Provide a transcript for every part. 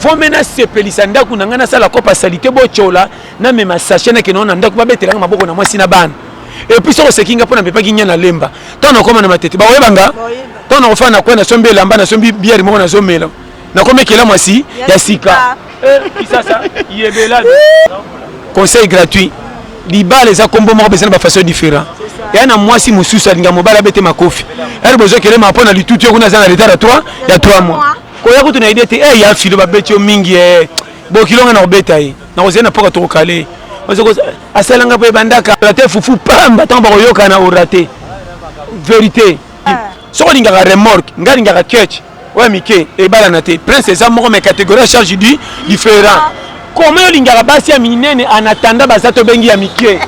fome nasepelisa ndako na ngai nasala kopa salite botyola namema sache nakenao na ndako babetelanga maboko na mwasi na bana epuis soko oseki nga mpo namepaki nya na lemba ntango nakoma na matete bakoyeba nga ntango nakofana na kwe nasombi elamba nasombi biere moko nazomela nakomi ekela mwasi ya sika eh, conseil gratuit libala eza nkombo moko beza na bafaçon différent eya na mwasi mosusu alinga mobali abete makofi ere bozokele ma mpo na litutu yo kuna aza na retard ya 3 ya 3 mois koya kutu na idée te eh ya filo ba beti yo mingi eh bokilo nga na kobeta ye na kozela na poka toko kale asala nga pe bandaka la te fufu pamba tango bakoyoka na orate vérité ah. soko lingaka remorque nga lingaka ketch oya mike ebalana te prince eza moko mais catégorie ya charge du différent ah. koma yo olingaka basi ya minene anatanda baza tobengi ya mike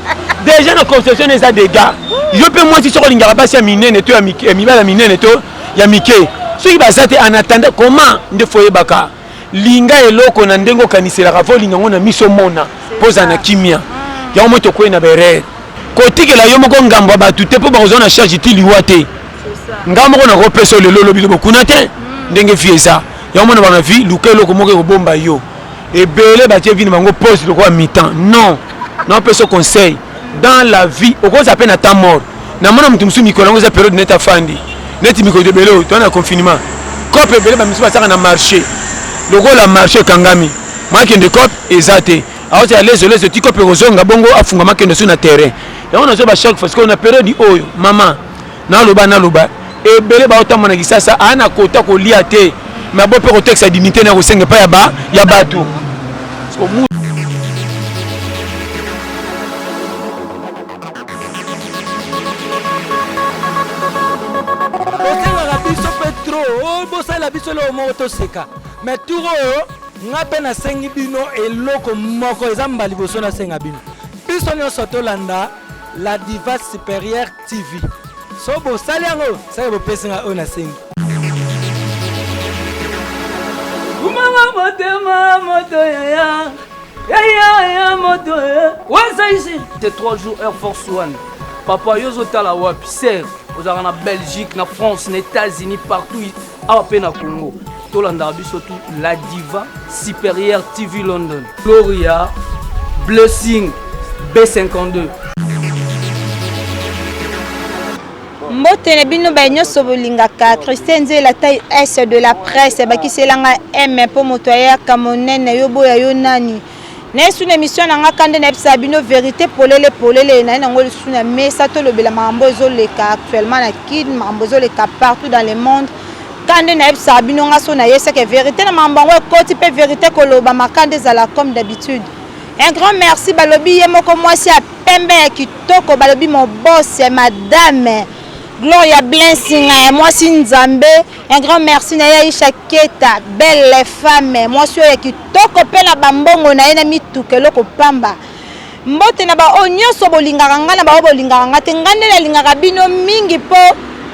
déjà na conception eza dega yo mpe mwasi soko olingaka basi ya minene to ya mibala minene to ya mike soki baza te en attendant comment nde fo oyebaka linga eloko na ndenge okaniselaka fo olinga yango na miso omona mpo ozala na kimia yango moi tokwei na baerreur kotikela yo moko ngambo ya bato te mpo bakozwa na charge ti liwa te ngai moko nakopesa lelo olobi lobo kuna te ndenge vie eza yango mona bana vie luka eloko moko ekobomba yo ebele batie vie na bango pose lokola mitan non naopesa conseil dans la vie okozala mpe na temps mort namona moto mosusu mikolo yango eza periode neti afandi neti mikolo ebele oyo toa na confinement cope ebele bamisusu basaka na marché lokola marché ekangami makende cope eza te aoza ya lezo lezo ti cope ekozonga bongo afunga makende su na terrain yango nazoba chaque fois sikoyo na periode oyo mama naloba naloba ebele baotamba na kisasa aa na kota kolia te me abo mpe kotekisa dignité na kosenga epai ya ba ya bato osengaka biso mpe tro oh, bosala biso eloko moko toseka me tour oyo ngai mpe nasengi bino eloko moko eza mbala liboso nasenga bino biso nyonso tolanda la diva supérieure TV. So bosali yango, saka bopesi nga oyo nasengi. Kumama motema moto yaya yaya ya moto waza ici te 3 jours air force one papa yo ozotala wapi ser ozalaka na belgique na france na états-unis partout awa mpe na congo tolandaka biso tu la diva supérieure tv london gloria blessing b52 mbote na bino baye nyonso bolingaka christian nzela tai s de la presse bakiselanga m mpo moto ayaka monene yo boya yo nani na esu na emission na nga kande nayebisa bino verite polele polele naye nango lisusu na mesa tolobela makambo ezoleka actuellement na kin makambo ezoleka partout dans le monde kande nayebisa bino nga so nayeseke verite na makambo yango ekoti mpe verite koloba makande ezala comme d'habitude un grand merci balobi ye moko mwasi ya pembe ya kitoko balobi mobose madame gloria blensinga ya mwasi nzambe un grand merci na ye aisha keta belle femme mwasi oyo ya kitoko Toko pela ba mbongo na ye na mituka eloko pamba. Mbote na ba oyo nyoso bolingaka nga na ba oyo bolingaka nga te nga nde na lingaka bino mingi po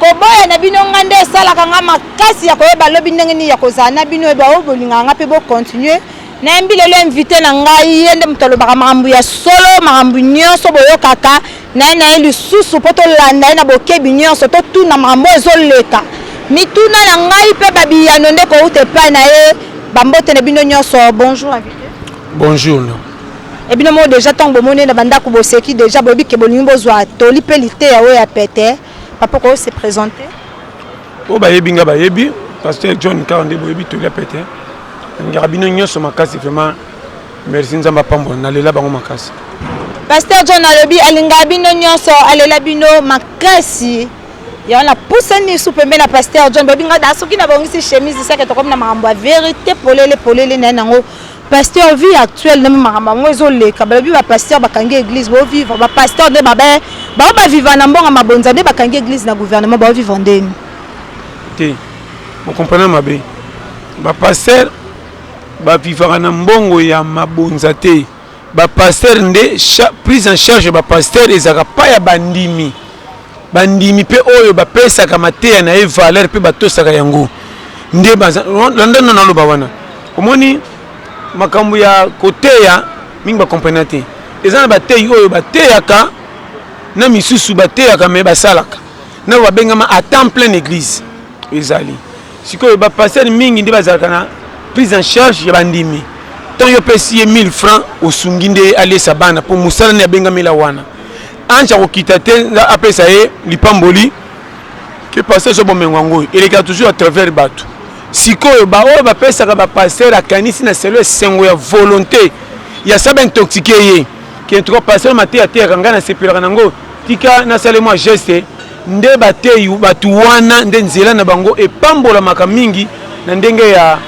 koboya na bino nga nde esalaka nga makasi ya koyeba lobi ndenge nini ya kozala na bino ba oyo bolingaka nga pe bo continuer Na yambi lelo invite na ngai ye nde moto alobaka makambo ya solo makambo nyoso boyokaka. naye naye lisusu mpo tolanda ye na bokebi nyonso, totuna makambo oyo ezoleka, mituna na ngai mpe ba biyano nde ekowuta epai na ye. Ba mbote na bino nyonso. Bonjour invite. Bonjour no. Et bino moko dejà ntango bomoni ye na ba ndako boseki dejà, boyebi que bolingi bozwa toli mpe liteya oyo ya pete. Papa okoki ko se presenter? Oyo bayebi ngai bayebi, Pasteur John Kaka nde boyebi toli ya pete. Nalingaka bino nyonso makasi vraiment. Merci nzambe apambola na lela bango makasi. Pasteur John alobi alinga bino nyonso alela bino makasi yango napusani su pembe na pasteur John bobi nga da soki nabongisi chemise seke tokomi na makambo ya verite polele polele na ye nango pasteur vie actuelle nde makambo yango ezoleka balobi bapasteur bakangi église bovivre bapasteur nde babe bao baviva na mbongo mabonza nde bakangi église na gouvernement baovivre ndeni te bokomprana mabe bapasteur Ba vivaka na mbongo ya mabonza te. Ba pasteurs nde prise en charge ya ba pasteurs ezalaka epai ya bandimi. Bandimi mpe oyo bapesaka mateya na ye valeur mpe batosaka yango nde baza landa na naloba wana. Omoni makambo ya koteya mingi ba comprena te. Eza na bateyi oyo bateyaka na misusu bateyaka me basalaka na babengama a temps plein na eglise. ezali sikoyo ba pasteur mingi nde bazalaka na prise en charge ya bandimi tant yo pesi ye 1000 francs osungi nde alesa bana mpo mosala nde abengamela wana anja kokita te nga apesa ye lipamboli ke pasteur azwa bomengo yango oyo elekaka toujours à travers bato sikoyo baoyo bapesaka bapasteur akanisi na selo esengo ya volonté ya saba intoxique ye ke ntuka pasteur mate ateyaka ngai nasepelaka nango tika nasale mwa geste Nde bateyi bato wana nde nzela na bango epambolamaka mingi na ndenge ya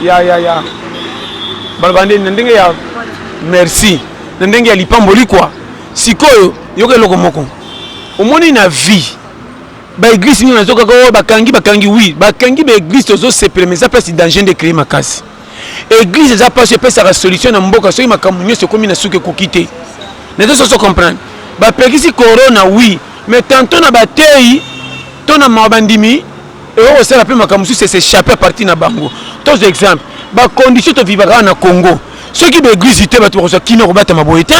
ya ya ya baloba nde na ndenge ya merci na ndenge ya lipamboli kwa sikoyo yoka eloko moko omoni na vie baeglise nini nazokaka oyo oh, bakangi bakangi wi bakangi baeglise tozosepela ma eza place danger nde ecreye makasi Eglise eza pasi epesaka solution na mboka soki makambo nyonso ekomi na suka ekoki te. Nazo soso comprendre. Ba pekisi corona oui, mais tantôt na bateyi to na mawa bandimi eko kosala pe makambo mosusu se s'échapper à partir na bango. Tozo exemple ba conditions to vivaka na Congo soki ba eglise te bato bakozwa kimia kobatama boye te.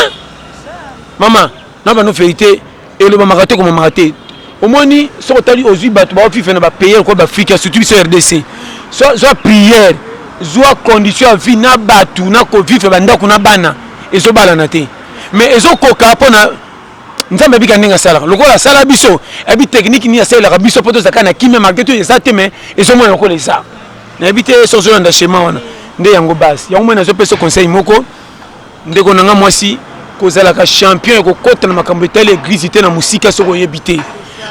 Maman na bano verite elobamaka te komamaka te omoni soki otali ozwi bato baofife na bapayer kwa baafrika surtout biso rdc zwa priere zwa condition ya vie na bato na kovivre bandako na bana ezobalana te mais ezokoka mpo na nzambe abika ndenge asalaka lokola asala biso abi teknike nini asalelaka biso mpo tozalaka na kimia malgre to eza te mais ezomona lokola eza nayebi te so ozolanda chema wana nde yango base yango moi nazopesa conseil moko Ndeko na nga mwasi, kozalaka champion ya kokota na makambo etali eglize te na mosika soki oyebi te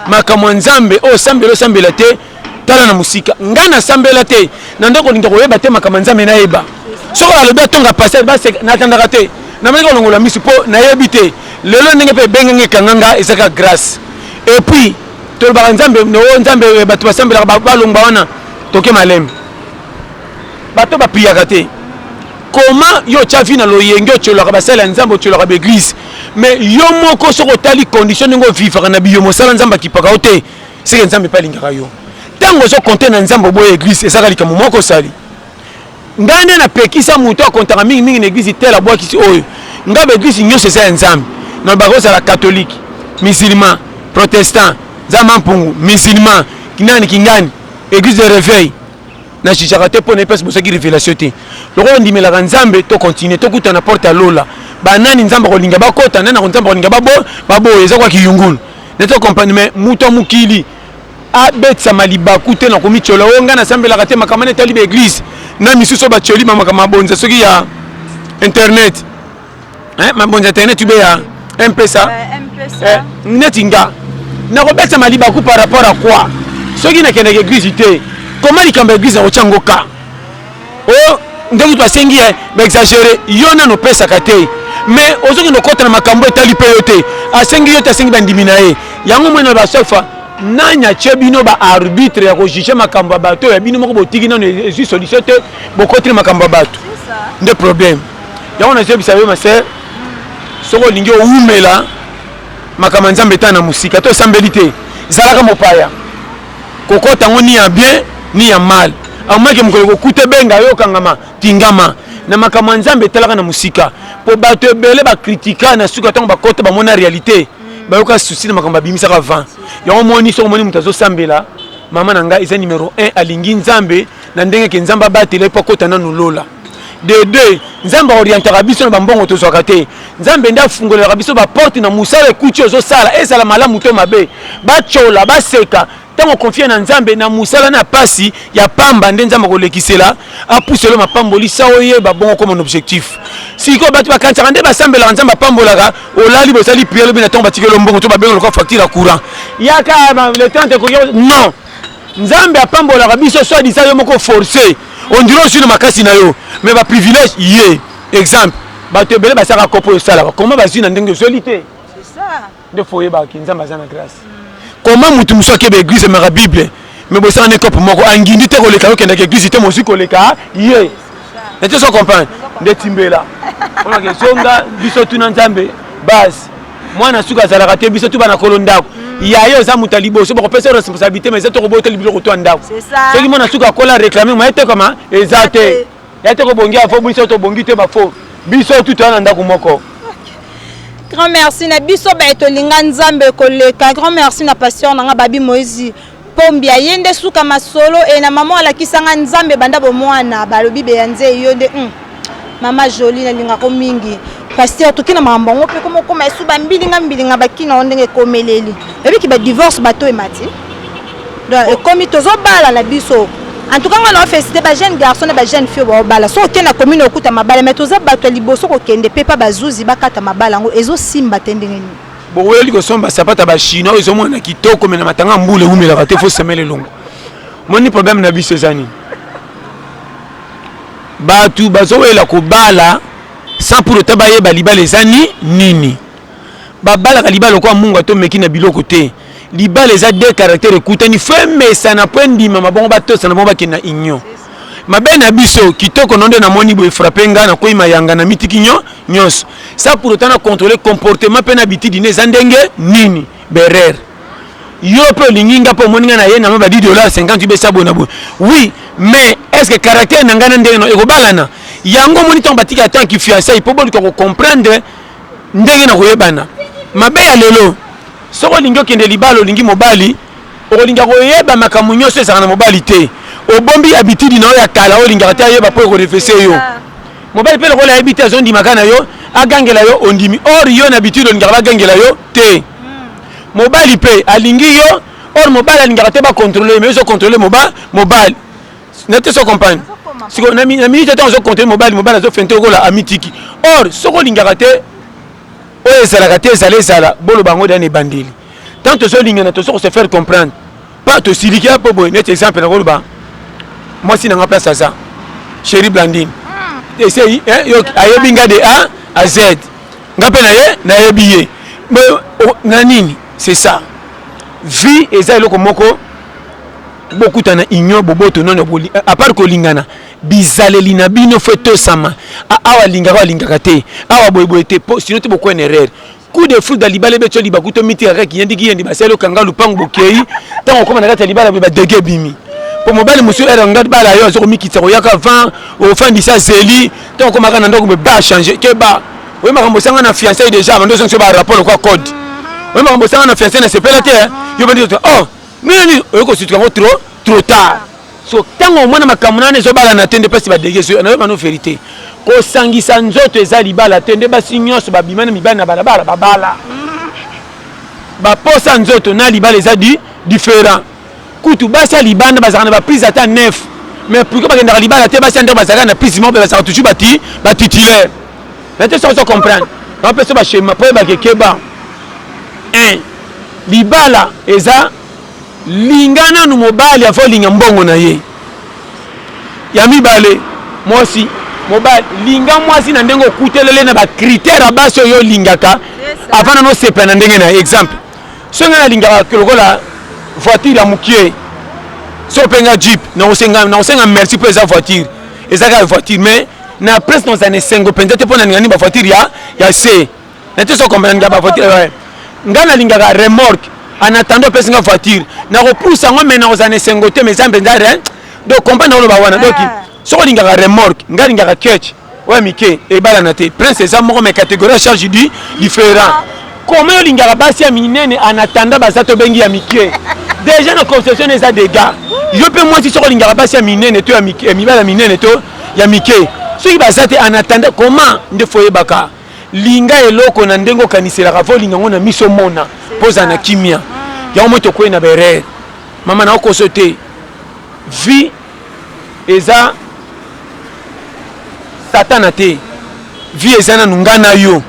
makambo ya nzambe oyo osambela osambela te tala na mosika ngai nasambela te na ndako olinga koyeba te makambo ya nzambe nayeba soki alobi atonga pasere natandaka te namoni kolongola misu mpo nayebi te lelo ndenge mpe ebengenge ekanga nga ezaka grâce epuis tolobaka nzambe noo nzambe eh, bato basambelaka balongba wana toke malembe bato bapiyaka te comment yo otya vie na loyenge otyolaka basali ya nzambe otyolaka baeglise mais yo moko soki otali condition ndenge ovivaka na biyo mosala nzambe akipaka yo te seke nzambe mpe alingaka yo ntango ozokonte na nzambe oboya eglise ezaka likambo moko osali ngai nde napekisa moto akontaka mingimingi na eglise tele abwakisi oyo ngai baeglise nyonso eza ya nzambe nalobaka ozala katholike musulman protestant nzambe mpungu musulman kinani kingani eglise de réveil na jijaka te mpo na ye mpasi bozwaki révélation te lokola ondimelaka nzambe to continue tokuta na porte ya lola banani nzambe akolinga bakota nani ako nzambe akolinga baboya eza kwa kiyungulu nde to comprendre mais moto ya mokili abetisama libaku te na komityola oyo ngai nasambelaka te makambo na etali baeglise na misusu oyo batyoli bamakambo mabonza soki ya internet eh, mabonza internet ube ya mpesa eh, neti nga nakobeta malibaku par rapport à quoi soki nakendaka eglise te koma likambo ya eglise nakotya ngo ka o oh, nde kutu basengi ye baexagere yo nano opesaka te mais ozokende okota na makambo etali mpe yo te asengi yo te asengi bandimi na ye yango moi na basofa nani atye bino baarbitre ya kojuge makambo ya bato ya bino moko botiki nano ezwi solution te bokoti na makambo ya bato nde problème yango nazoyebisa yo ma sœur soki olingi owumela makambo ya nzambe etana mosika to esambeli te zalaka mopaya kokota yango ni ya bien ni ya mal amaki mokolo kokuta ebenga yo okangama tingama na makambo ya nzambe etalaka na mosika mpo bato ebele bakritika na suka ntango bakota bamona réalité bayoka susi na makambo babimisaka vent yango moni soki omoni moto azosambela mama na ngai eza numero 1 alingi nzambe na ndenge ke nzambe abatela ye mpo akota nanu lola de deux nzambe aorientaka biso na bambongo tozwaka te nzambe nde afungolelaka biso baporte na mosala ekuti ozosala ezala malamu to mabe batyola baseka ntango okonfie na nzambe na mosala na mpasi ya pamba nde nzambe akolekisela apuselo mapamboli sa oyeba bongo okoma na objectif sikoyo bato bakanisaka nde basambelaka nzambe apambolaka olali bozali priere lobi na ntango batikelo mbongo to babenga lokola facture ya courant yaka le temps ekoki non Nzambe apambolaka biso soit disant yo moko forcer on dirait osui na makasi na yo mais ba privilège ye exemple bato ebele basalaka kopo oyo osalaka koma bazwi na ndenge ozweli te nde fo oyebaki nzambe aza na grâce koma motu mosusu akeba eglise emaka bible me bosala na ekope moko angindi te koleka yo kendaka eglise te mozwi koleka ye na te so comprendre nde timbela olake zonga biso tuna nzambe base mwana suka azalaka te biso tuba na kolo ndako mm. ya yo oza moto ya liboso bakopesa yo responsabilité ma eza te koboteli biloko to ya ndako soki mwana suka akola réclame moye te koma eza te ya te kobongi afo biso tobongi te bafo biso tu toya na ndako moko grand merci na biso baye tolinga nzambe koleka grand merci na pasteur na nga babi moïse Combia ye nde suka masolo et na maman alakisa nga nzambe banda bomwana balobi beya nze yo nde hum maman jolie nalinga ko mingi pasteur toki na makambo yango mpe koma okoma esu bambilinga mbilinga bakina yango ndenge ekomeleli oyebiki badivorce bato emati donc ekomi tozobala na biso en tout cas nga nao félicité ba jeune garçon na ba jeune fille baobala soki okende na commune okuta mabala mais toza bato ya liboso kokende mpe mpa bazuzi bakata mabala yango ezosimba te ndenge nini Bokoyeli kosomba sapata ba chinois ezo mona kitoko mais na matanga mbule umela ka te faut semele longo. Moni problème na biso ezani. Batu bazo wela ko bala sans pour autant bayeba libala eza ni nini. Babalaka libala kwa mungu ato meki na biloko te. Libala eza deux caractères ekutani femesana po endimama bongo batosa na bongo bakenda union. mabe na biso kitoko no nde namoni boye frappe nga na koyi mayanga na mitiki nyo nyonso sa pour autant na contrôler comportement mpe na bitidi na eza ndenge nini berer yo mpe olingi nga mpe omoni nga na ye na mwa ba 10 dollars 50 besa boye na boye oui mais est ce que caractère na ngai na ndenge no ekobalana yango omoni ntango batika ata kifiansai mpo boluka kocomprendre ndenge na koyebana mabe ya lelo soki olingi okende libala olingi mobali Okolinga koyeba makambo nyoso ezalaka na mobali te. Obombi habitude na yo ya kala oyo olingaka te ayeba po eko refese yo. Mobali pe lokola ayebi te azo ndima kaka na yo agangela yo ondimi or yo na habitude olingaka ba gangela yo te. Mobali pe alingi yo or mobali alingaka te ba controler ye mais yo ozo controler moba mobali. Nayebi te soki o comprendre. Sikoyo na minute tango ozo controler mobali, mobali azo feinte lokola amitiki. Or soki olingaka te oyo ezalaka te ezala ezala boloba yango dejà na ebandeli. tant tozo lingana tozo ko se faire comprendre pa tosiliki apo boye neti exemple nakoloba mwasi na nga place aza chéri blandine ah. esei eh, ayebi nga de a a z nga mpe na ye nayebi ye na nini c'est ça vie eza eloko moko bokutana union boboto nono boli eh, apart kolingana bizaleli na bino fo etosama awa alingaka alingaka te awa boyeboye te po sino te bokwena erreur coup de foudre libala ebeti yo libaku to mitika kaka kiyendi kiyendi basali okanga lupangu bokei ntango okoma na kati ya libala boye badege ebimi mpo mobali mosusu ere nga bala yo aza komikitisa koyaka avant ofandisa zeli ntango okomaka na ndako boye ba change keba oye makambo osanga na fiancai déjà bando ozongisa ba rapport lokwa code oye makambo osanga na fiancai na sepela te yo bandi oh nini oye kosutuka yango trop trop tard so ntango omona makambo nana ezobalana te nde mpasi badege ezoya nayo bano verité kosangisa nzoto eza libala te nde basi nyonso babima na mibali na balabala babala baposa nzoto na libala eza di différent kutu basi ya libanda bazalaka na baprise ata nef mais pourquoi bakendaka libala te basi ya ndako bazalaka na prise moko bazalaka toujours bati batitulaire na te sokoso comprendre bapesa bashema mpo ebakekeba libala eza Linga nanu mobali avant olinga mbongo na ye. Ya mibale, mwasi, mobali, linga mwasi na ndenge okutelele na ba critères ya basi oyo olingaka avant nanu osepela na ndenge na ye. Exemple, soki ngai nalingaka lokola voiture ya mokie, soki mpe nga jeep, nakosenga nakosenga merci mpo eza voiture, eza kaka voiture mais na presse nakozala na esengo mpenza te mpo nalinga nini ba voiture ya ya se. na te so comprendre nga ba voiture ouais nga na lingaka remorque en attendant pesi nga voiture na ko pousse ngo mais na ko zana sengo te mais zambe nda rien donc combat na ba wana donc ah. so ko lingaka remorque nga lingaka catch ouais mike e bala na te prince eza moko mais catégorie charge du différent comment yo lingaka basi ya minene en attendant baza to bengi ya mike déjà na conception eza dégâts yo mpe mwasi soko olingaka basi ya minene to ya mibala minene to ya mike soki baza te en attendant comment nde fo oyebaka Linga eloko na ndenge okaniselaka ava olinga yango na miso omona mpo ozala na kimia yango moi tokwei na berere mama na okoso te vie eza satana te vie eza nanu ngai na yo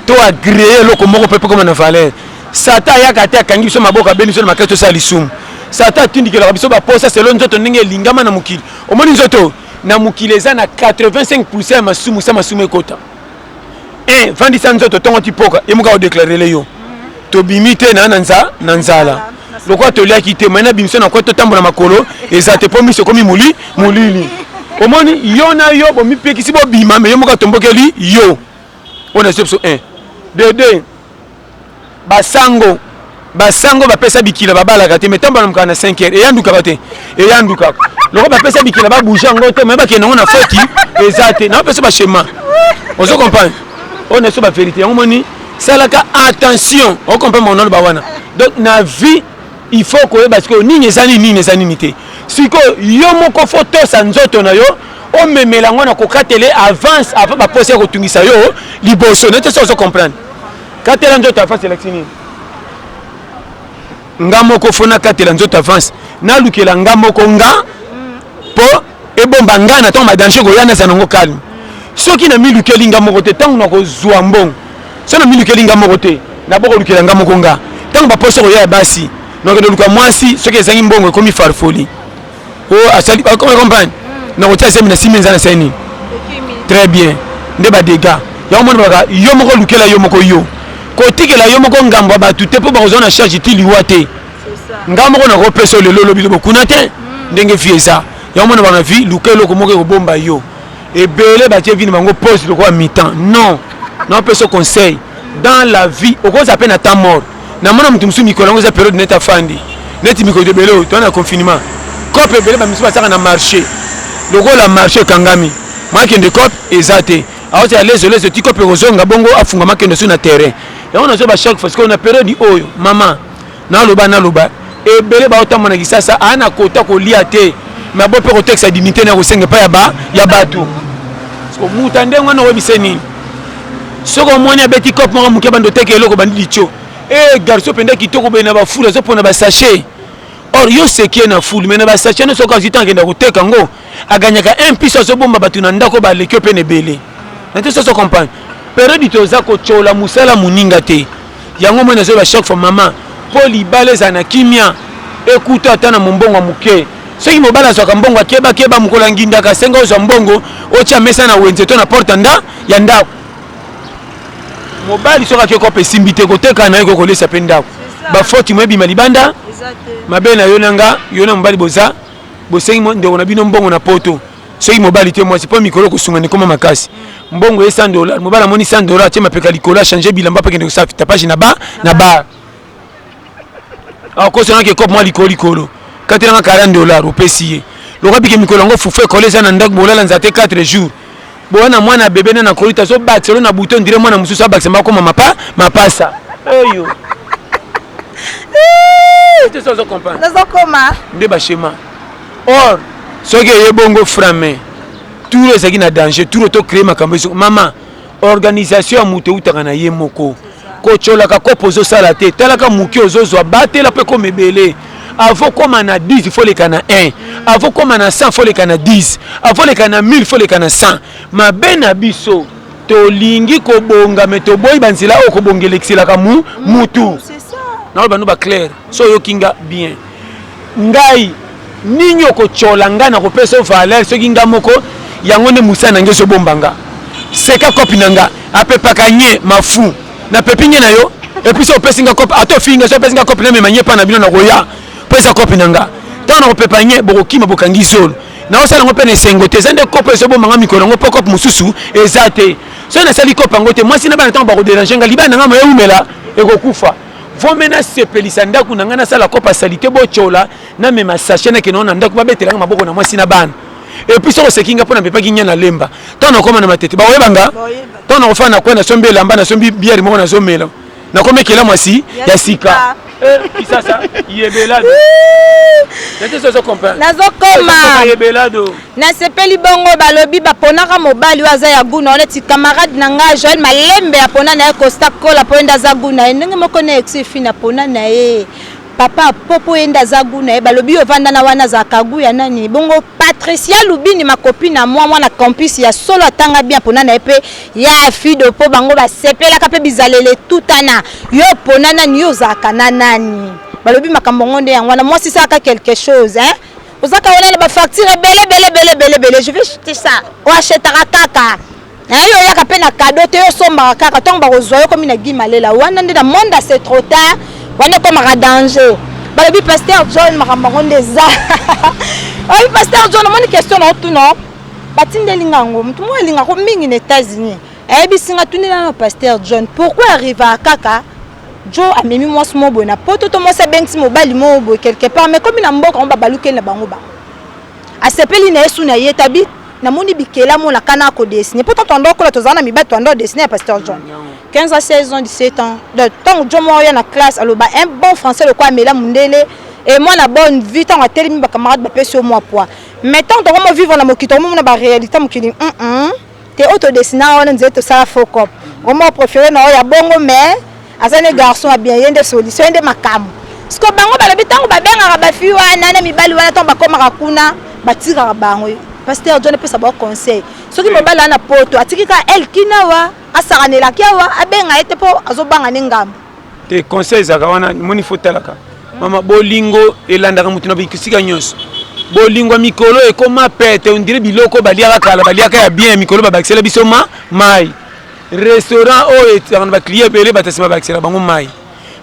to agree eloko moko mpe ekoma na valeur satan ayaka te akangi biso maboko abeli biso na makasi tosala lisumu satan atindikelaka biso baposa selo nzoto ndenge elingama na mokili omoni nzoto na mokili eza na 85 pourcent ya masumu sa masumu ekota eh vandisa nzoto tongo ti poka ye muka odeklarile yo tobimi te na na nza na nzala lokola toliaki te mai na bimisa na kwe totambola makolo eza te mpo miso ekomi moli molili omoni yo na yo bomipekisi bobima me yo moko atombokeli yo oyo na biso biso 1 dede Ba sango ba sango ba pesa bikila ba balaka te mais tango balamuka na 5 heures eyandukaka te eyandukaka loko ba pesa bikila ba bouger yango te mais bakende yango na foti eza te na pesa ba schéma ozo comprendre on est sur ba vérité yango moni salaka attention o comprendre mon nom ba wana donc na vie il faut koyeba sikoyo nini eza nini nini eza nini te sikoyo yo moko fo tosa nzoto na yo omemela yango na kokatele avance avant baposa ya kotungisa yo liboso na te so ozo comprendre katela nzoto avance elakisi nini nga moko fo nakatela nzoto avance nalukela nga moko nga mpo ebomba ngai na ntango badanger koya naza nango calme soki namilukeli nga moko te ntango nakozwa mbongo soki namilukeli nga moko te nabokolukela nga moko nga ntango baposo koya ya basi nakende luka mwasi soki ezangi mbongo ekomi farfoli o oh, asali comprendre nakotia zemi na simi eza na sani très bien nde badega yango moni baka yo moko lukela yo moko yo kotikela yo moko ngambo ya bato te mpo bakozwa na charge ti liwa te nga moko nakopesa lelo lobi lobo kuna te hmm. ndenge vie eza yango mona bana vie luka eloko moko ekobomba yo ebele batie vie na bango pose lokola mitan non naopesa conseil dans la vie okoza mpe na temps mort namona moto mosusu mikolo yango eza periode neti afandi neti mikolo ebele oyo toza na confinement cope ebele bamisusu basaka na marché lokola marché ekangami makende cope eza te awoti ya lezo lezo ti cope ekozonga bongo afungama kende su na terrain yango nazoba chaque fois sikoyo na periode oyo mama Naloba naloba ebele ba otamba na kisasa a na kota ko lia te mais bo pe ko texte dignité na ko senga pa ya ba ya batu ko muta ndengo na webise nini soki omoni abeti cop moko moke bando teke eloko bandi litio e eh, garso mpenza kitoko boye na bafulu azopona basachet or yo sekie na fulu mai na basachet nyonso oka azwi ntango akenda koteka yango aganyaka un piso azobomba bato na ndako baleki yo mpe na ebele na te soso comprendre periode toza kotyola mosala moninga te Yango moi nazoyeba chaque fois mama mpo libala ezala na kimia ekuta ata na mombongo ya moke soki mobali azwaka mbongo akebakeba mokolo ya ngindaka asenga ozwa mbongo otya mesa na wenze to na porte nda ya ndako mobali soki akei kopa esimbi te koteka na ye ko kolesa mpe ndako bafoti mo ebima libanda mabe na yo na nga yo na mobali boza bosengi ndeko na bino mbongo na poto soki mobali te mwasi mpo mikolo kosungana ekoma makasi mbongo ye 100 dollar mobali amoni 100 dollar atie mapeka likolo achange bilamba mpe akende kosala tapage na ba na bar akosanaki ah, ekope mwa likolo likolo katelanga 40 dollar opesi ye lokola bike mikolo yango fufu ekole eza na ndako bolala nzate 4 jours boya na mwana bebe na nakoli tazobakisa lo na buto ndire mwana mosusu abakisa bakoma mapa mapasa eyo nazokoma nde bashema or soki eye bongo frame tour ezalaki na danger tour to créer makambo ezo mama organisation ya moto eutaka na ye moko kocolaka kopo ozosala te talaka moke ozozwa batela mpe koma ebele avo koma na 10 fo leka na 1 avo koma na 100 fo leka na 10 avo leka na 1000 fo leka na 100 mabe na biso tolingi kobonga me toboyi banzela oyo kobonga elekiselaka mu mutu naoyo bano baclaire so oyoki nga bien Ngai nini okotiola nga na kopesa yo valeur soki nga moko yango nde mosala na nga ezobomba nga seka kopi na nga apepaka nye mafu na pepi nye na yo epuis so opesi nga kopi ata ofingi nga so opesi nga kopi na mema nye pa na bino na koya po eza kopi na nga ntango na kopepa nye bokokima bokangi zolo naosala yango mpe na esengo te eza nde kopo ezobomba nga mikolo yango mpo kope mosusu eza te soki nasali kope yango te mwasi na bana ntango bakoderange nga libala na nga moya ewumela ekokufa vome nasepelisa ndako na ngai nasala kopa salite botyola namema sache nakende wana na ndako babetela ngai maboko na mwasi na bana epuis soko oseki ngai mpo napepaki nya na lemba ntango nakoma na matete bakoyeba nga ntango nakofana na kwe nasombi elamba nasombi biere moko nazomela nakomi ekela mwasi ya sika eh, kisasa yebelado nazo koma yebelado Nasepeli bongo balobi baponaka mobali oyo aza ya gout na yo neti camarade na nga Joël Malembe apona na ye Costa Cola mpo ye nde aza gout na ye ndenge moko na Exil Fina apona na ye Papa Po mpo ye nde aza gout na ye balobi yo ovanda na wana azalaka gout ya nani bongo Patricia Lubini ma copine à moi mwana campus ya solo atanga bien apona na ye mpe ya Fido mpo bango basepelaka mpe bizaleli etutana yo opona nani yo ozalaka na nani balobi makambo yango nde yango wana mwasi salaka quelque chose hein oza kawana na bafacture ebele ebele ebele ebele ebele je vais jeter ça oachetaka kaka naye yo oyaka mpe na kado te yo osombaka kaka ntango bakozwa yo komi na gi malela wana nde na monde ase trop tard wana ekomaka danger balobi paster john makambo yango nde eza oyebi paster john omoni question na otuna batindeli nga yango motu moko alingako mingi na états-unis ayebisi nga tunela na paster john pourquoi arrivaka kaka jo amemi mwasi moko boye na poto to mwasi abengisi mobali moko boye quelque part mais komi na mboka yango babalukeli na bango bango asepeli na ye su na ye tabi namoni bikela mona kana akodesine mpo tanto ando akola tozala na mibali toando adesine ya pasteur john 15 à 16 ans 17 ans donc ntango john moko ya na classe aloba un bon français lokola amela mondele e mwana bonne vie ntango atelemi bacamarade bapesi yo mwa poids mais ntango tokomo vivre na mokili tokomomona baréalité mokili mm -mm. te oyo to dessina wana nzete tosala faux cop vraiment préféré na oyo ya bongo mais aza ne garçon ya bien ye nde solution ye nde makambo siko bango balobi ntango babengaka bafi wana na mibali wana ntango bakomaka kuna batikaka bango pasteur john epesa bango conseil soki mobali wana poto atiki kaka elkina wa asakanelaki awa abenga ye te mpo azobanga ne ngambo te conseil ezalaka wana moni fo talaka mama bolingo elandaka moto na bisika nyonso bolingo ya mikolo ekoma pete ondire biloko baliaka kala baliaka ya bien ya mikolo babakisela biso ma mai restaurant oyo ezalaka na baclient ebele bato nsima babakisela bango mai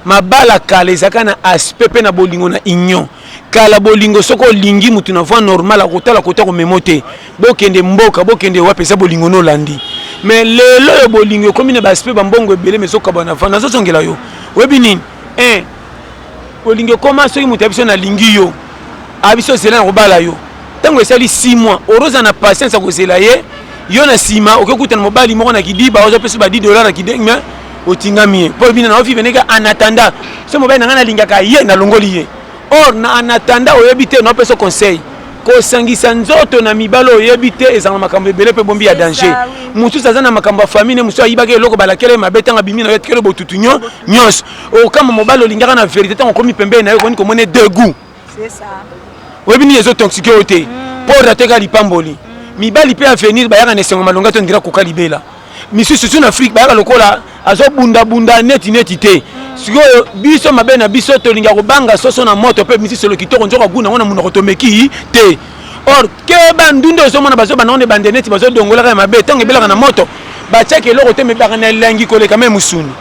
mabala kala ezalaka na aspect mpe na bolingo na union kala bolingo soki olingi moto na voi normal akotala kota komemo te Bokende mboka, bokende wapi eza bolingo no landi. Mais lelo yo bolingo ekomi na ba aspect ba mbongo ebele mais zo kabana vana zo zongela yo. Oyebi nini? Eh. Bolingo ekoma soki moto ya biso na lingi yo. A biso zela na kobala yo. Tango esali 6 mois, oroza na patience ya kozela ye. Yo na sima oke kuta na mobali moko na kidiba ozo pesa ba 10 dollars na kideng mais otingami ye. Po bina na ofi beneka en attendant. So mobali na ngai nalingaka ye na longoli ye. Or na en attendant oyebi te na pesa conseil. kosangisa nzoto na mibali oyo oyebi te ezala na makambo ebele mpe bombi ya danger mosusu aza na makambo ya famille mosusu ayibaki eloko balakela ye mabe ntango abimi na yo atikeli botutu nyonso okamba mobali olingaka na verité ntango okomi pembeni na yo okoni komona degout oyebi nini ezotoxike yo te mpo hmm. rateka lipamboli hmm. mibali mpe avenir bayaka na esengo malonga to ndira koka libela misusu sur afrique bayaka lokola azo bunda bunda neti neti te sikoyo biso mabe na biso tolinga kobanga soso na moto mpe misusu solo kitoko nzoka guna ngo na monoko tomeki te or keba ndunda ozomona bazobanda ngo na ebande neti bazodongolaka ya mabe ntango ebelaka na moto batiaki eloko te mebaka na elengi koleka me mosuni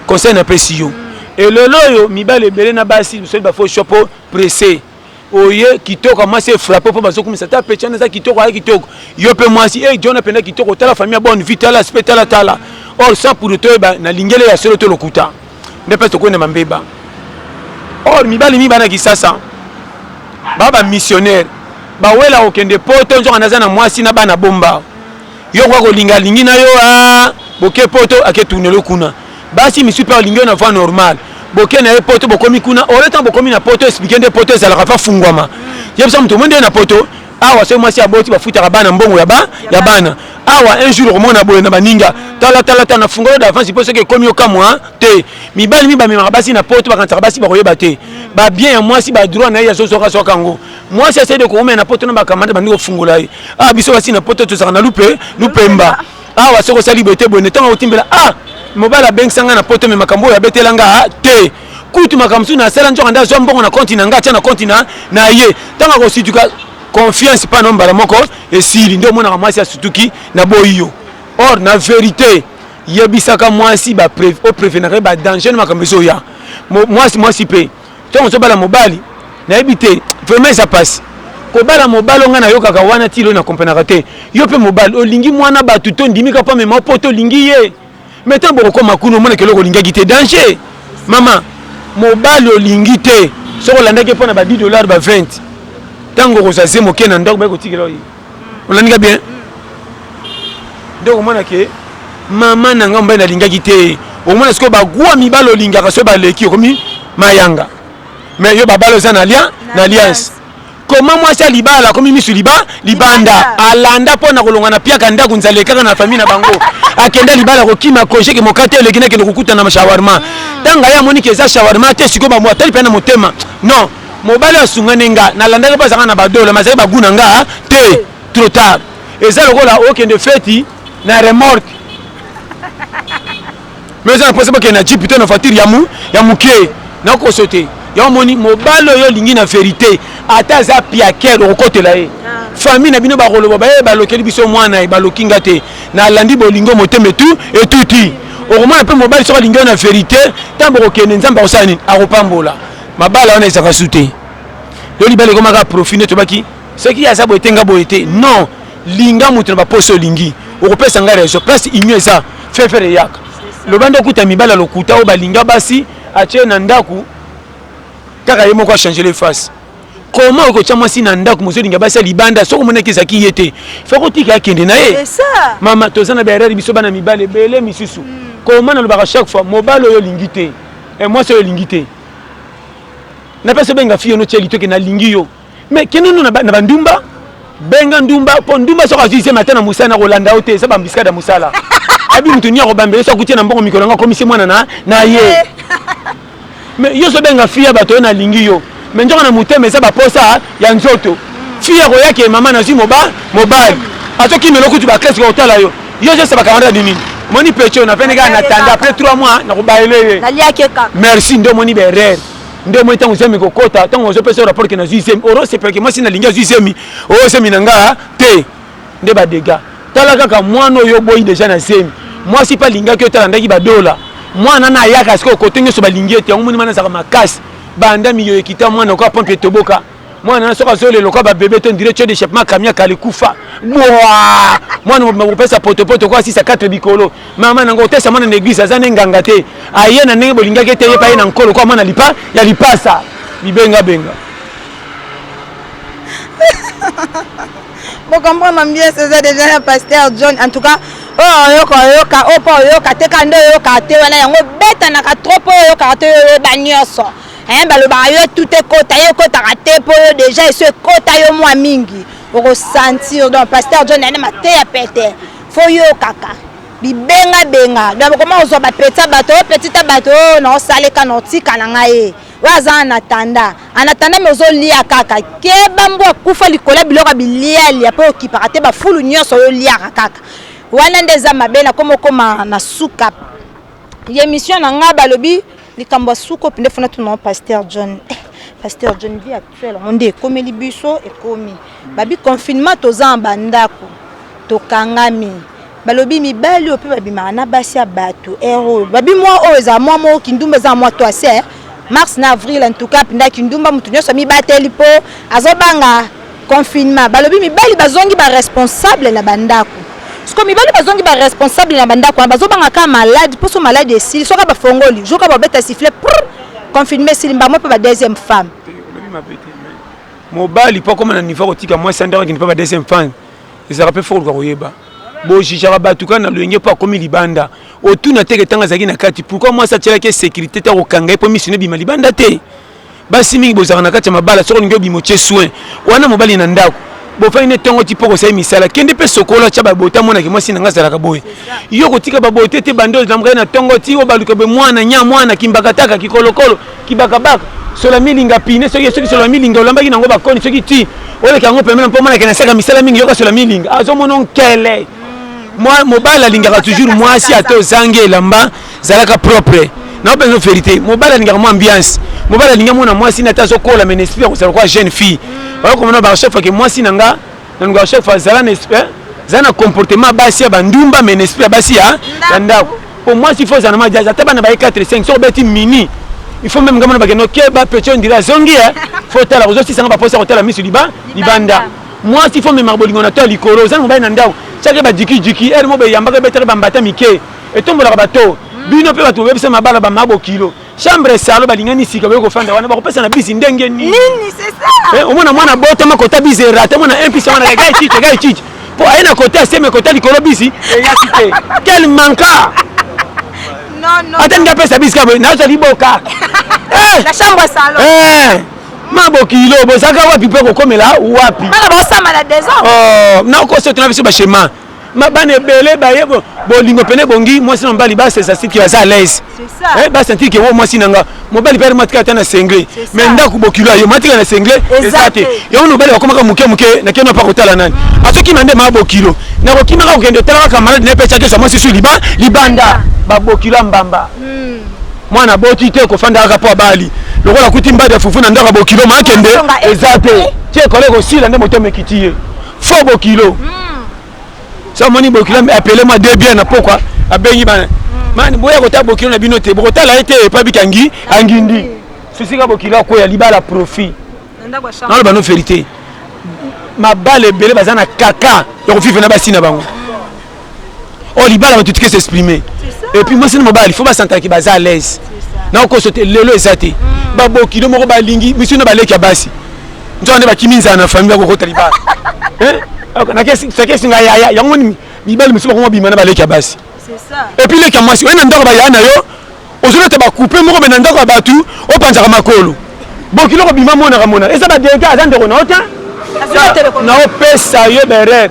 conseil napesi yo elelo oyo mibali ebele na basi mosali bafo shopo presse oye kitoko ya mwasi efrape mpo bazokumisa ata pechana eza kitoko aya kitoko yo mpe mwasi e jona mpenza kitoko tala famille ya bonne vie tala spe tala tala or sans pour toyeba na lingele ya solo to lokuta nde mpe tokoyi na mambeba or mibali mingi bana kisasa baa bamissionnaire bawela kokende poto nzoka naza na mwasi na bana bomba yo okoka kolinga alingi na yo ah, boke poto ake tunelo kuna basi misusu mpe alingi yo na voie normale boke na ye poto bokomi kuna ole ntango bokomi na poto esplike nde poto ezalaka mpe afungwama yebisa moto omoi nde na poto awa soki mwasi aboti bafutaka bana mbongo ya bana awa un jour okomona boye na baninga talatalata na fungolo d'avance mpo soki ekomi okamwa te mibali mi bamemaka basi na poto bakanisaka basi bakoyeba te babien ya mwasi badroit na ye azozwakazwaka yango mwasi asali de koumela na poto na bakamanda bandi kofungola ye ah biso basi na poto tozalaka na lupe lupemba awa ah, soki osali boye te boye ntango akotimbela ah mobali abengisa ngai na poto me makambo oyo abetela ngai ah, te kutu makambo mosusu nasala nzoka nde azwa mbongo na konti na ngai atya na konti na na ye ntango akosituka confiance mpa na mbala moko esili nde omonaka mwasi asutuki na boyi yo or na verité yebisaka mwasi oprevenaka ye badanger na makambo ezoya mwasi mwasi mpe Tango ozo bala mobali nayebi te vraiment eza pasi kobala mobali onga nayokaka wana ti lo na comprenaka te yo pe mobali olingi muana batu to ndimi ka po amema po to lingi ye mais tango bokokoma kuna omona keloko olingaki te danger mama mobali olingi te soki olandaki ye po na ba 10 dollars ba 20 tango okozwa ze moke na ndako baye kotikela yo ye olandi nga bien nde okomona ke mama na nga mobali nalingaki te okomona sikoyo bagwa mibale olingaka soki baleki okomi mayanga mais yo babale oza na lien na liance koma mwasi ya libala akomi misu liba libanda alanda mpo na kolonga na piaka ndako nzala ekaka na famille na bango akenda libala kokima koje ke mokate eleki nakende kokutana na shawarma ntanga hmm. ye amoni ke eza shawarma te sikoyo bambo atali mpe na motema non mobali oyo asungani nga nalandaki mpo azalaka na badola mazali bagu na nga te trop tard eza lokola okende feti na remorke mais eza na mposa bokende na jipe to na voiture ya moke nakoso te yango omoni mobali oyo olingi na verité ata aza piakere okokotela ye ah. famille na bino bakoloba baye eh, balokeli biso mwana ye eh, baloki nga te nalandi bolingo motema etu etuti okomona mpe mobali soki alingi yo na verité ntango bokokende nzambe akosala nini akopambola mabala wana ezaka su te yo libala ekomaka profit nde tobaki soki aza boye te nga boye te non linga moto na baposo olingi okopesa ngai raison place union eza fefere eyaka loba nde okuta mibala lokuta oyo balinga basi atye na ndako kaka ye moko achangele face comment okotya mwasi na ndako mozolinga basi ya libanda soki omonaki ezalaki ye te fo kotika akende na ye mama toza na baerere biso bana mibale ebele misusu hmm. koma nalobaka chaque fois mobali oyo olingi te Eh, mwasi oyo elingi te na pesa benga fiyo no cheli toke nalingi yo mais kende no na bandumba benga ndumba mpo ndumba soki azwi zemi ata na mosala na kolanda yo te eza bambiskade ya mosala abi moto ni akobambela so akuti na mbongo mikolo yango akomisi mwana na ye mais yo so benga fiya bato oyo nalingi yo mais nzoka na motema eza baposa ya nzoto fille akoya ke mama nazwi mobali azokimela okutu baklase kokotala yo yo ozesa bakamata di nini moni pecho na vene kaka na tanda après 3 mois nakobaele ye merci nde omoni berere nde omoni ntango zemi kokota ntango ozopesa rapport ke nazwi zemi orosepelake mwasi nalingi azwi zemi oyo zemi na nga te nde badega tala kaka mwana oyo oboyi deja na zemi mwasi mpe alingaki otalandaki badola mwana na ayaka sikoyo kote nyonso balingi ete yango moni mana azalaka makasi banda miyoyo ekita mwana okoa pompe etoboka mwana na soki azolela lokola babebe to ndire tio de chepema kamiaka alikufa bwa mwana mobima kopesa potopoto okoa sisa 4 likolo mama nango otesa mwana na eglise aza nde nganga te aye na ndenge bolingaki ete yepa ye na nkolo koa mwana lipa ya lipasa bibengabenga Bo comprendre bien c'est déjà ya pasteur John en tout cas oh oyoka oyoka oyo oh, mpo oyoka te kanda oyoka te wana yango obetanaka trop mpo oyokaka te oyoyeba nyonso eh, balobaka yo tout ekota yo ekotaka te mpo yo déjà eso ekota yo mwa mingi okosentir donc pasteur john ane mateya pete fo yokaka bibengabenga donc okoma kozwa bapetisa bato opetita oh, bato oyo oh, naosaleka naotika na ngai oyo aza anatanda anatanda me ozolia kaka keba mbo akufa likolo ya biloko ya bilialia mpo okipaka te bafulu nyonso oyo oliaka kaka wana nde eza mabe na koma okoma na suka ya emission na ngai balobi likambo ya suka opinde fona tuna pasteur john eh, pasteur john via Ferre yango nde ekomeli biso ekomi babi confinement toza na bandako tokangami balobi mibali oyo mpe babimaka na basi ya bato ere oyo babi mwa oyo ezala mwa moko kindumba eza na mwa toise eh. mars na avril en tout cas mpenza kindumba moto nyonso amibateli mpo azobanga confinement balobi mibali bazongi baresponsable na bandako siko mibali bazongi baresponsable na bandako wana bazobanga kaka malade mposo malade esili soki bafongoli jour kaka babeta sifle confinement esili mbamo mpe ba deuxième femme olobi mabe te mobali mpo akoma na niveau akotika mwasi andako akende mpo ba deuxième femme ezalaka mpe fokoluka koyeba bojijaka bato kaka na loyenge mpo akomi libanda otuna teke ntango azalaki na kati pourkui mwasi atyelaki esekirité te akokanga ye mpo misino ebima libanda te basi mingi bozalaka na kati ya mabala soki olingi obima otye soin wana mobali na ndako bofandi nde ntongo ti mpo kosali misala kende mpe sokola tya babota monaki mwasi na ngai azalaka boye yo kotika babote te bando ezamkai na ntongo ti obaluka be mwana nya mwana kimbakataka kikolokolo kibakabaka sola milinga pine soki soki sola milinga olambaki nango bakoni soki ti oleka yango pemena mpo monaki nasaka misala mingi yoka sola milinga azomona nkele mobali alingaka toujours mwasi ata ozangi elamba zalaka propre nao mpenza verité mobali alingaka mwa ambiance mobali alinga mwana mwasi na ata azokola mene esprit ya kozala kwa jeune fille oyo komona bachaque ke mwasi na nga na nunga chaque fois zala na esprit eh, zala na comportement ya basi ya bandumba mene esprit ya basi ya ndako mpo mwasi ifo ozala na majazi ata bana baye 4 5 soki obeti mini il faut même ngamana bakende okeba petit ondira azongi e eh. fo otala kozosisanga baposa kotala miso liba libanda mwasi fo memaka bolingo na to ya likolo ozangi mobali na ndako cake badikidiki ere mo beyambaka ebetaka bambata mike etombolaka bato hmm. bino mpe bato bobebisa mabala bama bokilo chambre esalo balingani sika boye kofanda wana bakopesa na bisi ndenge nini eh, omona mwana botama kota bisi erate mwana mpisa wana egai cici egai cici mpo aye na kota aseme kota likolo bisi eyaki te kel manka ata nde apesa bisi kaboye nazali boka eh! eh! ma bokilo bozalaka wapi mpe kokomela wapi oh, nakosoto na biso bashema ma bana ebele baye bolingo pene bongi mwasi na mobali basesa siki aza alaise eh, basentir ke wo oh, mwasi na nga mobali pere matika ata na sengle mai ndako bokilo ayo matika na sengle eza te yango mobali bakomaka moke moke na keno mpa kotala nani azokima nde maa bokilo nakokimaka kokende otala kaka maladi na pecha kesa mwasi su liba libanda babokilo ya mbamba hmm. mwana boti te kofanda kaka mpo abali lokola kuti mbadi ya fufu na ndako ya bokilo maakende eza te tie kole kosila nde moto amekiti ye fo bokilo sa moni bokilo apele mwa de bien na pokwa abengi bana mani boya kotala bokilo na bino te bokotala ye te epa bikangi angindi sisika bokilo akweya libala profit naloba no verité mabala ebele baza na kaka ya kovive na basi na bango oh libala bato tike s'exprimer et puis mwasi na mobali fo basantana ke baza à l'aise na okoso te lelo eza te mm. babokilo moko balingi misu na baleki ya basi nzoka nde bakimi nzala na famille bakokota libala nakesi ngai yaya yango mibali mosusu bakoma bima na baleki ya basi et puis leki ya mwasi oye na ndako bayaya na yo ozolata bakupe moko me na ndako ya bato opanzaka makolo bokilo kobima monaka monaka eza badega aza ndeko na yo te naopesa yo berere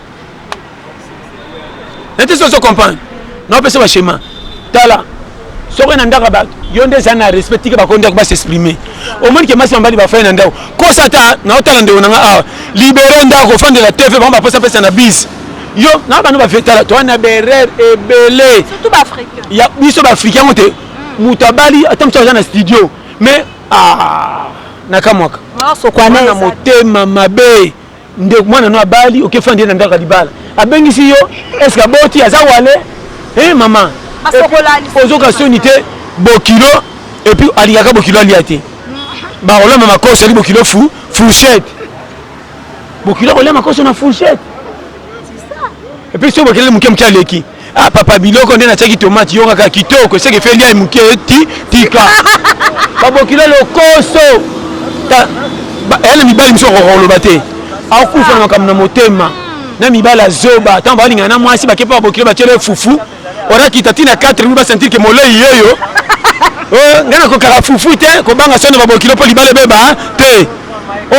nete soso comprendre naopesa bashema tala soki na ndako bato yo nde ezali na respect tike bakoki ndako basexprime omoni ke masi mambali bafai na ndako kosa ata naotala ndeko na nga awa libere ndako ofandela tv bango baposa pesa na bise yo na bana bafetala toa na berere ebele ya biso baafrika yango te moto abali ata mosu aza na studio mais ah, nakamwaka na motema mabe ndeko mwana no abali oke fandi ye na ndako ya libala abengisi yo eske aboti aza wale e eh, mama ozoka soni te bokilo epuis alingaka bokilo alia te bakolamba makoso ali bokilo fu fourchette bokilo akolia makoso na fourchette epuis so bokelele moke moke aleki Ah papa biloko nde natiaki tomate yo kaka kitoko eseke fe lia moke ti tika babokilo lokoso eya na mibali mosusu akoka koloba te akufa na makambo na motema na mibali ya zoba ntango balingana na mwasi bake mpe babokilo batyela fufu orakita ti na 4 mi basentir ke molei yoyo eh, ngai nakokaka fufu te kobanga sono babokilo mpo libala ebeba te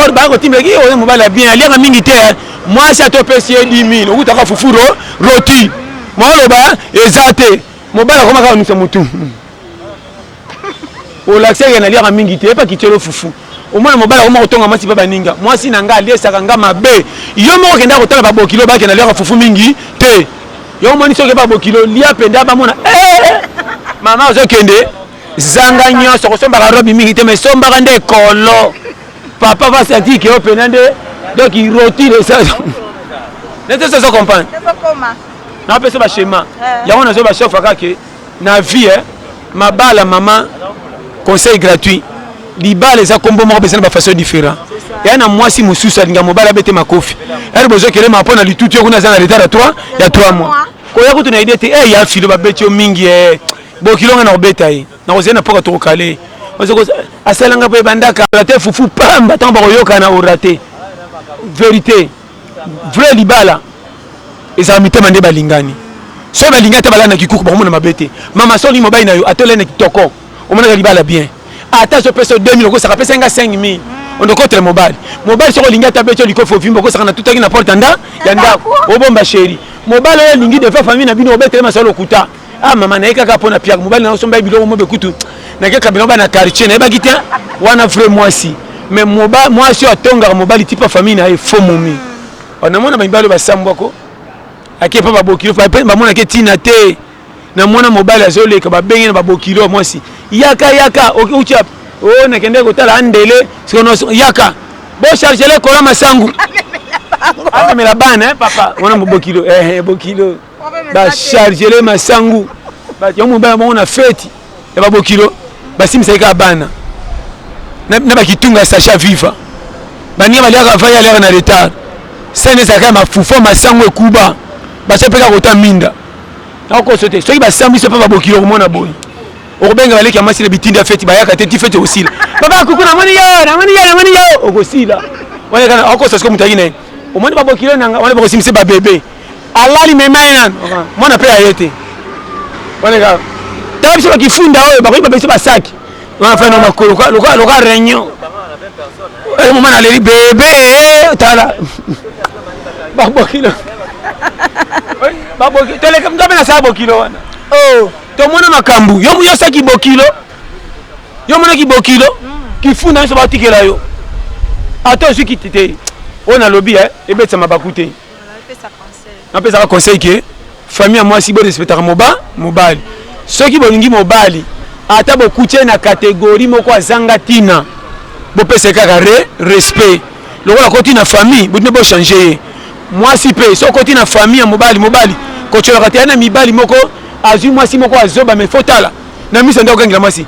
or baya kotimbela ki oyo mobali ya bien aliaka mingi te eh. mwasi ata opesi ye 10000 okutaka fufu ro roti maoloba eza te mobali akoma kaka nusa motu olakisa ye naliaka mingi te epa kitielo fufu omona mobali akoma kotonga mwasi mpe baninga mwasi na ngai aliesaka ngai mabe yo moko okendaka kotala babokilo bakenda liaka fufu mingi te yo omoni soki babokilo lia mpenza bamona eh, eh, mama ozokende zanga nyonso kosombaka robi mingi te ma esombaka nde ekolo papa va sentir que yo pena nde donc roti de ça nete ça ça comprendre na pesa ba schéma eh. yango nazo ba chef aka que na vie hein mabala maman conseil gratuit libala eza kombo moko besa na ba façon différent ya na mwasi mosusu alinga mobali abete makofi ere bozokelema mpo na litutu yo kuna aza na retard ya 3 ya 3 mois koya kutu na idée te e ya filo babeti yo mingi e bokilonga na kobeta ye nakozela na poka tokokale asalanga mpe bandaka rate fufu pamba ntango bakoyokana orate verité vrai libala ezala mitema nde balingani soki balingani ata balala na kikuku bakomona mabe te mama soki mobali na yo atolai na kitoko omonaka libala bien ata azopesa 2000 okosaka pesa nga 5000 ondokotela mobali mobali soki olingi ata beti olikofi ovimba okosaka na tutaki na porte ya ndako obomba sheri mobali oyo alingi defa famille na bino obetele masolo lokuta ah mama naye kaka mpo na piaka mobali na osomba ye biloko mobe kutu nake kabila bana quartier nayebaki te wana vrai mwasi mais mwasi oyo atongaka mobali tipa famille na ye fo momi oh, namona mibali oyo basambwako ake epa babokilo mpe bamonake ntina te na mwana mobali azoleka babenge na babokilo mwasi yaka yaka outi o oh, nakendeki kotala andele sikoyo yaka bochargele kola masangu amemela bana eh, papa wana mobokilo eh, eh, bokilo bachargele masangu bato ya mobali bango na feti ya babokilo basimisaki kaka bana na bakitunga ya sacha viva baninga baliaka vai aliaka na retard sani ezalaka ya mafufa masangu ekuba baso mpe kaka kota minda nakokoso te soki basambisi mpe babokilo komona boye okobenga baleki ya mwasi na bitindi ya feti bayaka te ti feti okosila baba kuku namoni yo namoni yo namoni yo okosila wana kana okosa soki moto ayaki na ye omoni babokilo nanga wana bakosimisa babebe alali mema ye nanu mwana mpe aye te waneka tala biso bakifunda oyo bakoki babesi basaki wanafai na makolo loka réunion eh, moma naleli bebe eh, tala babokilo toleka mto mpe nasala bokilo wana oh. tomona makambo yo yosaki bokilo yo monaki bokilo mm. kifunda nyonso batikela yo ata ozwi kiti te oyo nalobi eh, ebetisa mabaku te napesaka conseil ke famille ya mwasi borespectaka moba mobali soki bolingi mobali ata bokuti ye na kategori moko azanga ntina bopesa ye kaka re respect lokola koti na famille botine bochange ye mwasi mpe soki okoti na famille ya mobali mobali kotyolaka te ya na mibali moko azwi mwasi moko azoba mai fotala na miso nde okangela mwasi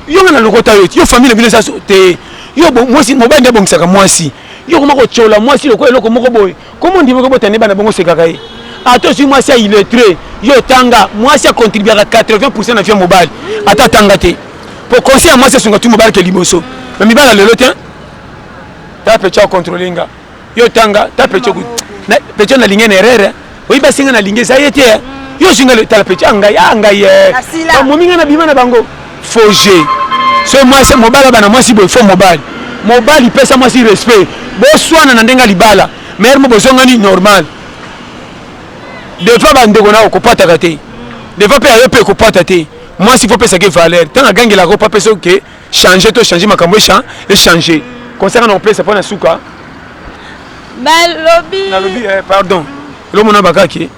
yo nga na lokota yo yo famille na bino eza te yo mwasi mobali nde abongisaka mwasi yo koma kotyola mwasi lokola eloko moko boye komo ndimi kobota nde bana bongo sekaka ye ata ozwi mwasi ya illettre yo otanga mwasi akontribuaka 80 pourcent na vie ya mobali ata atanga te po conseil ya mwasi esunga tu mobali ke liboso na mibala lelo te ta pecha ocontrole nga yo otanga ta pecha na pecha nalingi na erreur oyi basinga na lingi eza ye te eh. yo ozwi ngai tala peti angai ah, angai ah, eh. bamomi ngai na bima na bango foge so mwasi mobali abana mwasi boye fo mobali mobali pesa mwasi respect boswana na ndenge libala maire mo bozongani normal defa bandeko na okopataka te defa mpe ayo mpe ekopata te mwasi fo pesaki valeur ntango agangelaka opa pesa oke okay. change to change makambo echange conseil nga na kopesa mpo na suka balobi nalobi eh, pardon elomona bakaki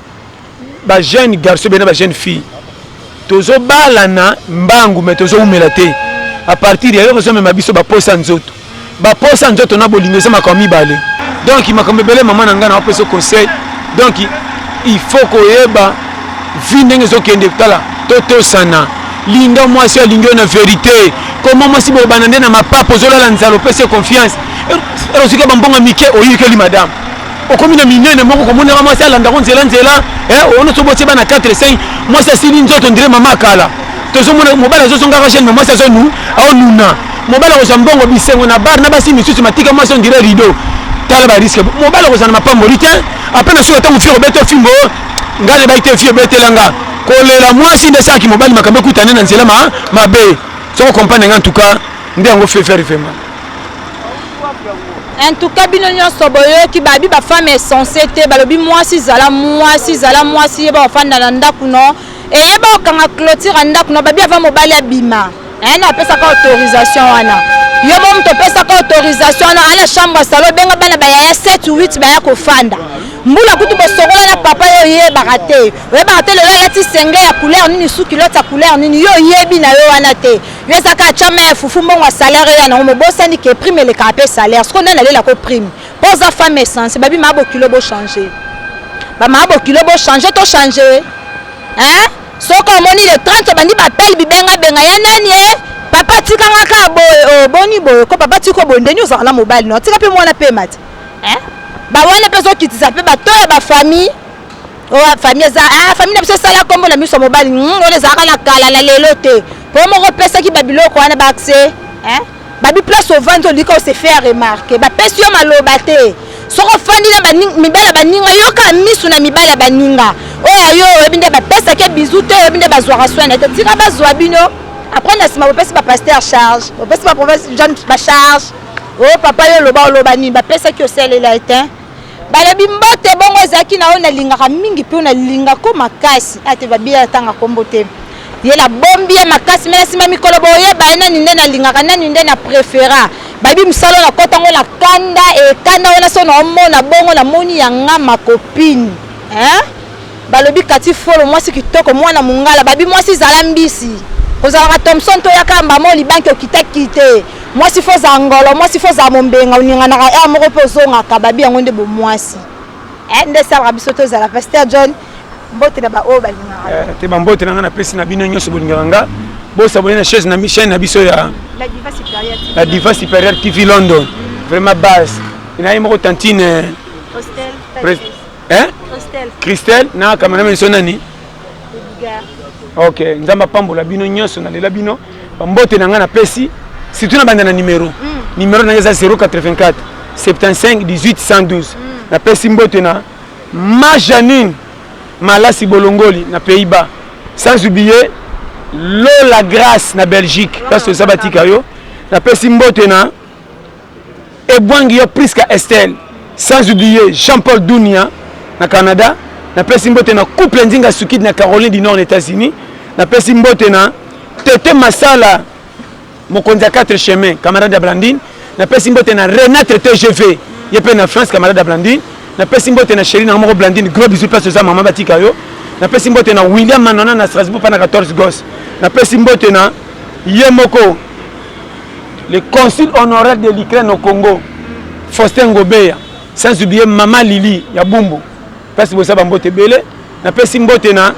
bajeune garçon bena bajeune fille tozobalana mbangu me tozoumela te apartir ya yo kozomema biso baposa nzoto baposa ya nzoto na bolingo eza makambo mibale donc makambo ebele mama na ngai na opesa conseil donc il faut koyeba vi ndenge ezokende tala totosana linga mwasi alingi yo na verité koma mwasi boyebana nde na mapapa ozolala nzala opesi confiance ozwika bambonga mike oyikeli madame okomi na minene moko komonaka mwasi alandako nzela nzela eh, ono sobotie bana 4 5 mwasi asili nzoto ndire mama kala tozomona mobali azozongaka jeune me mwasi azonu aonuna mobali akozwa mbongo bisengo na bar na basi misusu matika mwasi on dirait rideau tala ba risque mobali akozwa na mapamboli te apres na suka ntango fio obeta fimbo ngai nayebaki te fio obetela nga kolela mwasi nde esalaki mobali makambo ekutane na nzela mabe soko comprendre nga ntuka nde yango fefere vraimen en tout cas bino nyonso boyoki babi bafemme esense te balobi mwasi zala mwasi zala mwasi yeba ofanda na ndako no eyeba okanga clotire ya ndako no babi ava mobali abima Eh, na pesa ka autorisation wana. Yo bo moto pesa ka autorisation wana ala chambre ya salon benga bana ba yaya 7 ou 8 baya kofanda. Mbula kutu bosokola na papa yo yebaka te. Oyebaka te lelo alati senge ya couleur nini su culotte ya couleur nini yo yebi na yo wana te. Yo eza ka chama ya fufu mbongo ya salaire yo na ngo bosani ke prime eleka pe salaire. Siko nani alela ko prime. Poza femme essence babi mabo kilo bo changer. Ba mabo kilo bo changer to changer. Hein? Soki omoni le 30 obandi ba appel bibenga benga ya nani eh? Papa tika nga ka boye oh boni boye ko papa tiko boye ndeni ozala na mobali no tika pe mwana pe mati. Eh? Ba wana pe zo kitisa pe ba to ya ba famille oyo famille eza ah, famille na biso esala nkombo na miso mobali hmm, oyo ezalaka na kala na lelo te mpo moko opesaki babiloko wana baakse babi place ovandi olika ose faire remarke bapesi yo maloba te soki ofandi na mibali ya baninga yoka misu na mibali ya baninga oyo ayo oyebi nde bapesaki ye bizu te oyebi nde bazwaka soin na te tika bazwa bino apres na nsima bopesi bapaster charge bopesi baprovince jeune bacharge o oh, papa yo oloba oloba nini bapesaki osalela ete Balobi mbote bongo ezalaki na oyo nalingaka mingi mpe oyo nalinga ko makasi ate ah, babiya atanga kombo te ye nabombi ye makasi me na nsima mikolo boyeba nani nde nalingaka nani nde na prefera babi mosala oyo nakota yango na kanda ekanda wana so naomona bongo namoni yanga makopine hein? Balobi Cathy Folo mwasi kitoko mwana mungala babi mwasi zala mbisi ozalaka Thomson to yaka mbama olibanki okita kite mwasi fo za ngolo mwasi fo za mombenga oninganaka heure moko pe ozongaka babi yango nde bo mwasi eh nde salaka biso to zala Pasteur John mbote na ba oyo balingaka eh, te ba mbote na nga na pesi na bino nyonso bolingaka nga bo sabone na chaise na chaîne na biso ya la diva supérieure la diva supérieure TV London vraiment base inaye moko tantine hostel eh? christelle na kamera miso nani ok nzambe apambola bino nyonso nalela bino bambote na ngai napesi surtout na banda na numero mm. numero na ngai eza 084 75 18 112 mm. napesi mbote na ma janine malasi bolongoli na pays bas sans oublier lola grace na belgique place toza batika yo napesi mbote na Ebwangi yo Prisca Estelle sans oublier Jean Paul Dunia na Canada na pesi mbote na couple Nzinga Sukidi na Caroline du Nord na Etats-Unis na pesi mbote na Tete Masala mokonzi ya 4 chemin camarade ya Blandine na pesi mbote na Renate TGV ye pe na France camarade ya Blandine na pesi mbote na chérie na moko Blandine gros bisous place oza maman batika yo na pesi mbote na William Manona na Strasbourg pa na 14 gos na pesi mbote na ye moko le consul honoraire de l'Ukraine au Congo Faustin Ngobeya sans oublier mama Lili ya Bumbu place bosa ba mbote ebele napesi mbote na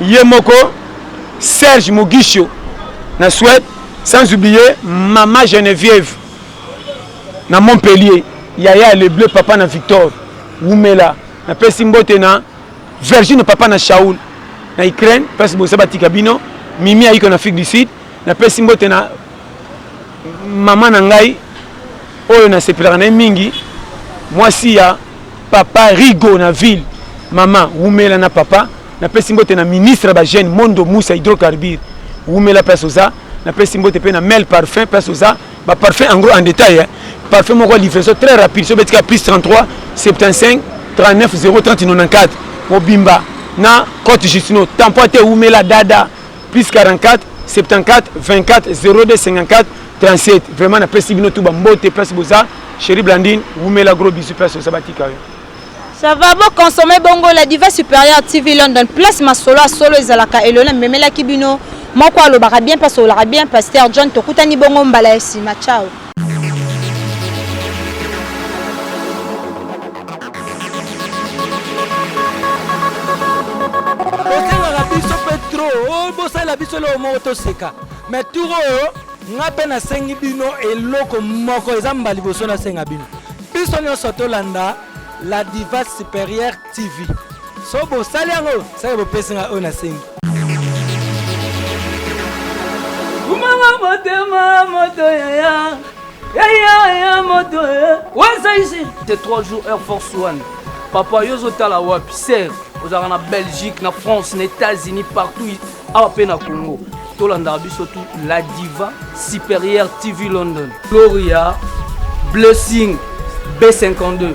ye moko Serge Mugisho na Suède sans oublier mama Geneviève na Montpellier yaya le bleu papa na Victor wumela napesi mbote na Virgine papa na Shaul na Ukraine place bosa batika bino Mimi ayiko na Afrique du Sud napesi mbote na mama na ngai oyo nasepelaka na ye mingi mwasi ya papa rigo na ville mama wumela na papa napesi mbote na ministre ya bajeune mondo musa hydrocarbure wumela place oza napesi mbote mpe na mel parfum place oza baparfum en gros en détail eh? parfum moko livraison très rapide so obetika plus 33 75 39 030 94 mobimba na cote justino tampo te wumela dada plus 44 74 24 02 54 37 vraiment napesi bino tu bambote place boza chéri blandine wumela gros bisu place oza batika yo ça va bo consommer bongo la diva supérieure tv london place masolo asolo ezalaka elona memelaki bino moko alobaka bien mpe asololaka bien pasteur john tokutani bongo mbala ya nsima ciao osengaka biso mpe tro oh, bosalela biso eloko moko toseka me tour oyo oh, ngai mpe nasengi bino eloko moko eza mbala liboso nasenga bino biso nyonso tolanda la diva supérieure TV. So bosali yango, saka bopesi nga oyo nasengi. Kumama motema moto yaya yaya ya moto waza ici te 3 jours air force one papa yo ozotala wapi ser ozalaka na belgique na france na états-unis partout awa mpe na congo tolandaka biso tu la diva supérieure tv london gloria blessing b52